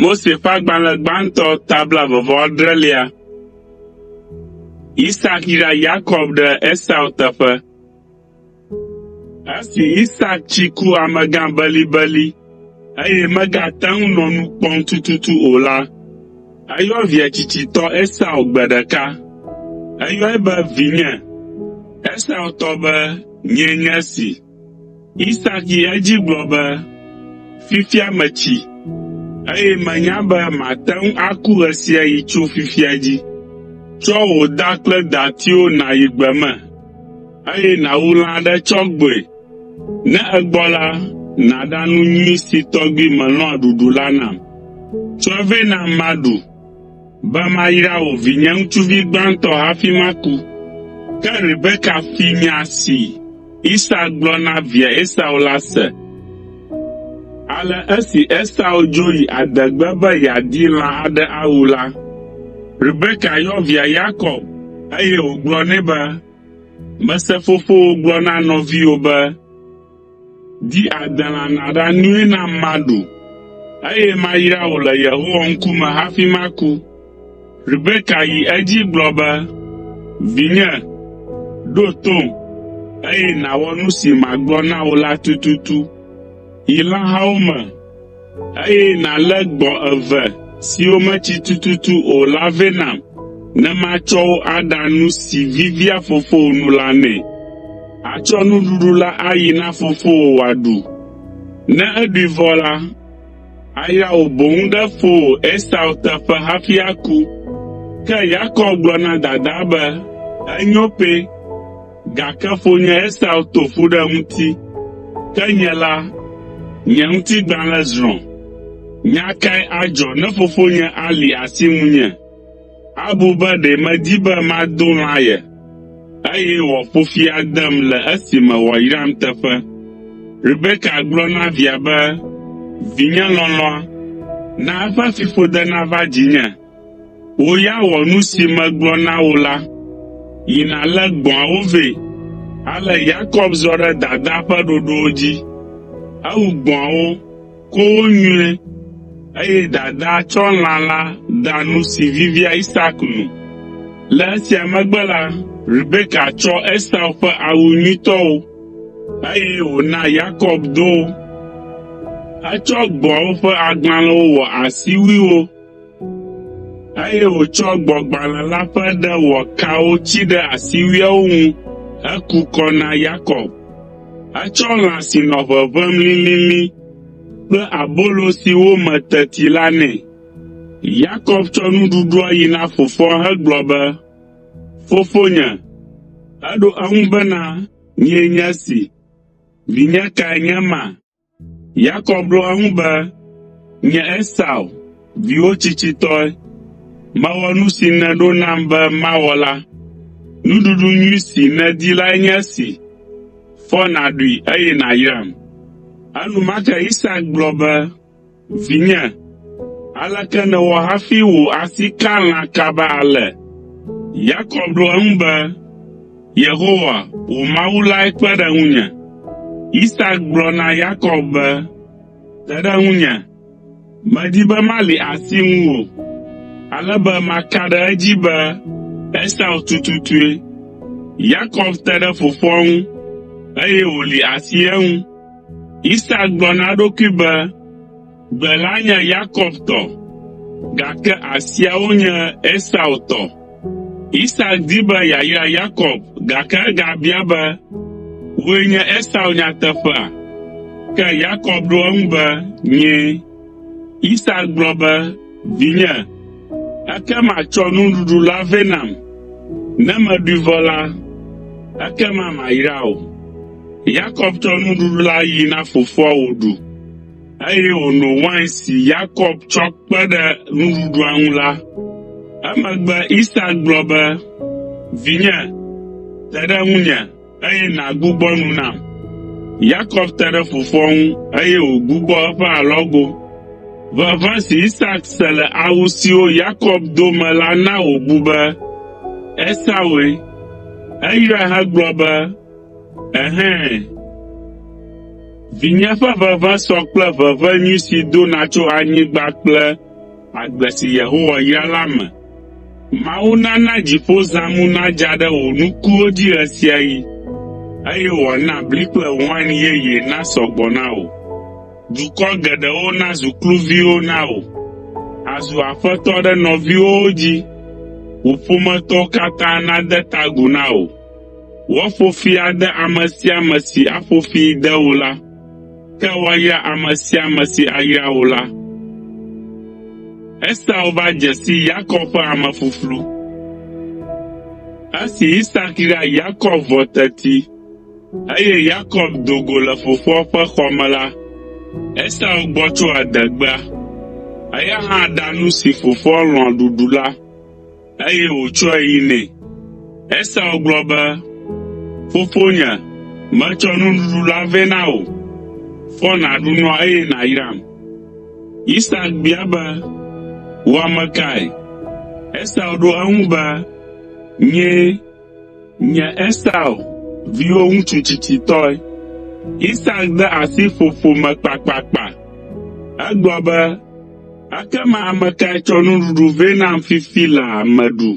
Mose ƒe agbalẽ gbãtɔ tabla vɔvɔ adrelia. Isak yra Yakob ɖe Esau teƒe. Esi Isak tsi ku amegã belibeli, eye megate ŋu nɔ nu kpɔm tututu o la, eyɔ via tsitsitɔ Esau gbe ɖeka. Eyɔe be, “Vinye!” Esau tɔ be, “Nyee nye esi.” Isak yi edzi gblɔ be, “Fifia metsi, eye menya be mate ŋu aku ɣesiaɣi tso fifia dzi. Tsɔ wò da kple datiwo nàyi gbe me eye nàwu lã aɖe tsɔ gbɔe. Ne egbɔ la, nàɖa nu nyui si tɔgbi melɔ̃a ɖuɖu la nam. Tsɔe vɛ nam maɖu, be mayra wò vinye ŋutsuvi gbãtɔ hafi maku.” Ke Rebeka fi nya si Isak gblɔ na via Esau la se. Ale esi Esau dzo yi adegbe be yeadi lã aɖe awu la, Rebeka yɔ via Yakob, eye wògblɔ nɛ be, “Mese fofowò gblɔ na nɔviwò be, ‘Di adelã nàɖa nui nam maɖu, eye mayra wò le Yehowa ŋkume hafi maku.’ ” Rebeka yi edzi gblɔ be, “Vinye, ɖo tom, eye nàwɔ nu si magblɔ na wò la tututu. Yi lãhawo me, eye nàlé gbɔ̃ eve siwo metsi tututu o la vɛ nam ne matsɔ wo aɖa nu si vivia fofowò nu la nɛ. Atsɔ nuɖuɖu la ayi na fofowò wòaɖu. Ne eɖui vɔ la, Ayra wò boŋ ɖe fowò Esau teƒe hafi aku. Ke Yakob gblɔ na dadaa be, Enyo pɛ, gake fonye Esau to ƒu ɖe ŋuti, ke nye la, nye ŋutigbalẽ zrɔ̃. Nya kae adzɔ ne fofonye ali asi ŋunye? Abu be ɖe medi be mado lã ye, eye wòaƒo fi adem le esime wòayram teƒe. Rebeka gblɔ na via be, “Vinye lɔlɔ̃a, na eƒe fiƒode nava dzinye. Wò ya wɔ nu si megblɔ na wò la. Yi nàlé gbɔ̃awo vɛ.” Ale Yakob zɔ ɖe dadaa ƒe ɖoɖowo dzi. Ewu gbɔ̃awo, Ko wo nyuie. Eye dadaa tsɔ lã la da nu si vivia Isak nu. Le esia megbe la, Rebeka tsɔ Esau ƒe awu nyuitɔwo, eye wòna Yakob do wo. Etsɔ gbɔ̃awo ƒe agbalẽwo wɔ asiwuiwo, Eye wòtsɔ gbɔ̃gbalẽ la ƒe ɖe wɔ kawo tsi ɖe asiwuiawo ŋu heku kɔ na Yakob. Etsɔ lã si nɔ ʋeʋẽm lilili kple abolo si wo me teti la nɛ. Yakob tsɔ nuɖuɖua yi na fofoa hegblɔ be, “Fofonye.” Eɖo eŋu bena, “Nyee nye esi. Vinye kae nye ema?” Yakob ɖo eŋu be, Nye Esau, viwò tsitsitɔe, mewɔ nu si nèɖo nam be mawɔ la. Nuɖuɖu nyui si nèdi lae nye esi. Fɔ nàɖui eye nàyram.” Enumake Isak gblɔ be, Vinye, aleke nèwɔ hafi wò asi ka lã kaba ale? Yakob ɖo eŋu be, Yehowa, wò Mawu lae kpe ɖe ŋunye. Isak gblɔ na Yakob be, Te ɖe ŋunye, medi be mali asi ŋuwò, ale be maka ɖe edzi be Esau tututue. Yakob te ɖe fofoa ŋu, eye wòli asi eŋu. Isak gblɔ na eɖokui be, “Gbe la nye Yakob tɔ, gake asiawo nye Esau tɔ.” Isak di be yeayra Yakob, gake egabia be, “Wòe nye Esau nyateƒea?” Ke Yakob ɖo eŋu be, “Nyee.” Isak gblɔ be, Vinye, ekema tsɔ nuɖuɖu la vɛ nam. Ne meɖui vɔ la, ekema mayra wò.” Yakob tsɔ nuɖuɖu la yi na fofoa wòɖu, eye wòno wain si Yakob tsɔ kpe ɖe nuɖuɖua ŋu la. Emegbe Isak gblɔ be, “Vinye, te ɖe ŋunye.” eye nàgbugbɔ nu nam.” Yakob te ɖe fofoa ŋu, eye wògbugbɔ eƒe alɔgo. Ʋeʋẽ si Isak se le awu siwo Yakob do me la na wòbu be Esaue. Eyrae hegblɔ be, “Ɛhɛ̃! Vinye ƒe ʋeʋẽ sɔ kple ʋeʋẽ nyui si dona tso anyigba kple agbe si Yehowa yra la me. Mawu nana dziƒozãmu nadza ɖe wò nukuwo dzi ɣesiaɣi, eye wòana bli kple wain yeye nasɔ gbɔ na wò. Dukɔ geɖewo nazu kluviwo na wò, àzu aƒetɔ ɖe nɔviwòwo dzi. Wò ƒometɔwo katã nade ta agu na wò. Woaƒo fi ade ame sia ame si aƒo fi de wò la. Ke woayra ame sia ame si ayra wò la. Esau va dze si Yakob ƒe ame ƒuƒlu. Esi Isak yra Yakob vɔ teti, eye Yakob do go le fofoa ƒe xɔ me la, Esau gbɔ tso adegbea. Eya hã ɖa nu si fofoa lɔ̃a ɖuɖu la. eye wòtsɔe yi nɛ. Esau gblɔ be, “Fofonye, metsɔ nuɖuɖu la vɛ na wò. Fɔ nàɖu nua eye nàyram.” Isak bia be, “Wò ame kae?” Esau ɖo eŋu be, “Nyee.” Nye Esau viwo ŋutsu tsitsitɔe. Isak de asi ƒoƒo me kpakpakpa. Egblɔ be, “Ekema ame kae tsɔ nuɖuɖu vɛ nam fifi laa meɖu,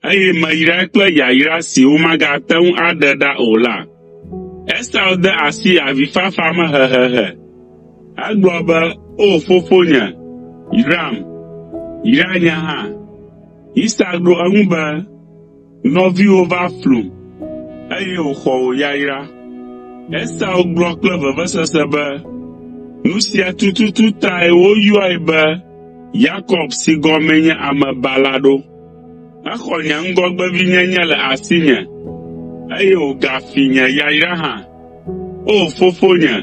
eye meyrae kple yayra si womagate ŋu aɖe ɖa o la?” Esau de asi avifafa me hehehe. Egblɔ be, “O fofonye, yram! Yra nye hã!” Isak ɖo eŋu be, Nɔviwò va flum, eye wòxɔ wò yayra. Esau gblɔ kple vevesese be, Nu sia tututu tae woyɔe be Yakob si gɔmee nye Amebala ɖo. Exɔ nye ŋgɔgbevinyenye le asinye, eye wògafi nye yayra hã. “O fofonye,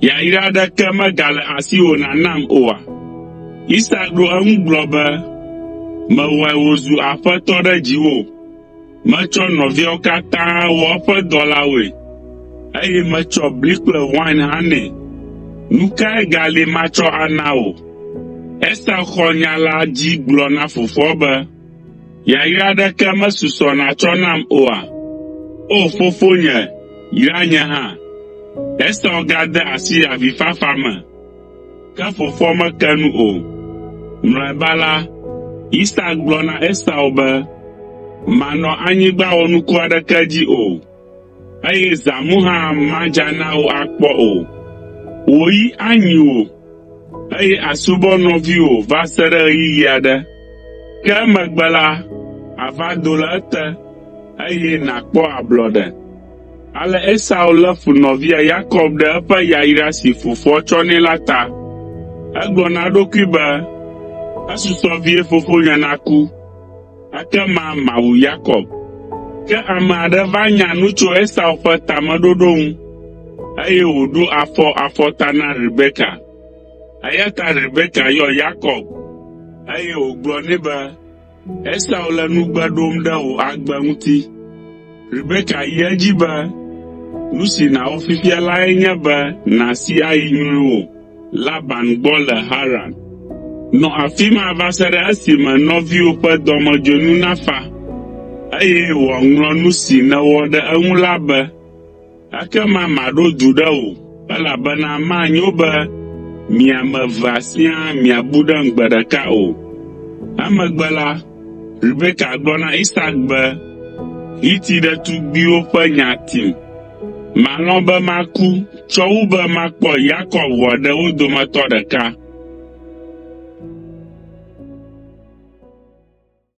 yayra aɖeke megale asiwò nànam oa?” Isak ɖo eŋu gblɔ be, “Mewɔe wòzu aƒetɔ ɖe dziwò. Metsɔ nɔviawo katã wɔ eƒe dɔlawoe, eye metsɔ bli kple wain hã nɛ. Nu kae gali matsɔ ana wò?” Esau xɔ nya la dzi gblɔ na fofoa be, Yayra aɖeke mesusɔ nàtsɔ nam oa? O fofonye, yra nye hã!” Esau gade asi avifafa me, ke fofoa meke nu o. Mlɔeba la, Isak gblɔ na Esau be, “Mànɔ anyigba wɔnuku aɖeke dzi o. eye zãmu hã madza na wò akpɔ o. Wò yi anyi wò, eye àsubɔ nɔviwò va se ɖe ɣeyiɣi aɖe, ke emegbe la, àva do le ete, eye nàkpɔ ablɔɖe. Ale Esau lé fu nɔvia Yakob ɖe eƒe yayra si fofoa tsɔ nɛ la ta. Egblɔ na eɖokui be, “Esusɔ vie fofonyea naku!” Ekema mawu Yakob. Ke ame aɖe va nya nu tso Esau ƒe tameɖoɖo ŋu, eye wòɖo afɔ afɔ ta na Rebeka. Eya ta Rebeka yɔ Yakob, eye wògblɔ nɛ be, “Esau le nugbe ɖom ɖe wò agbe ŋuti.” Rebeka yi edzi be, “Nu si nàwɔ fifia lae nye be nàsi ayi nyruiwò.” Laban gbɔ le Haran. Nɔ afi ma va se ɖe esime nɔviwò ƒe dɔmedzoenu nafa, eye wòaŋlɔ nu si nèwɔ ɖe eŋu la be. Ekema maɖo du ɖe wò, elabena manyo be mi ame evea siaa miabu ɖem gbe ɖeka o. Emegbe la, Rebeka gblɔ na Isak be, Hiti ɖetugbiwo ƒe nya tim. Malɔ̃ be maku tsɔ wu be makpɔ Yakob ʋɔa ɖe wo dometɔ ɖeka.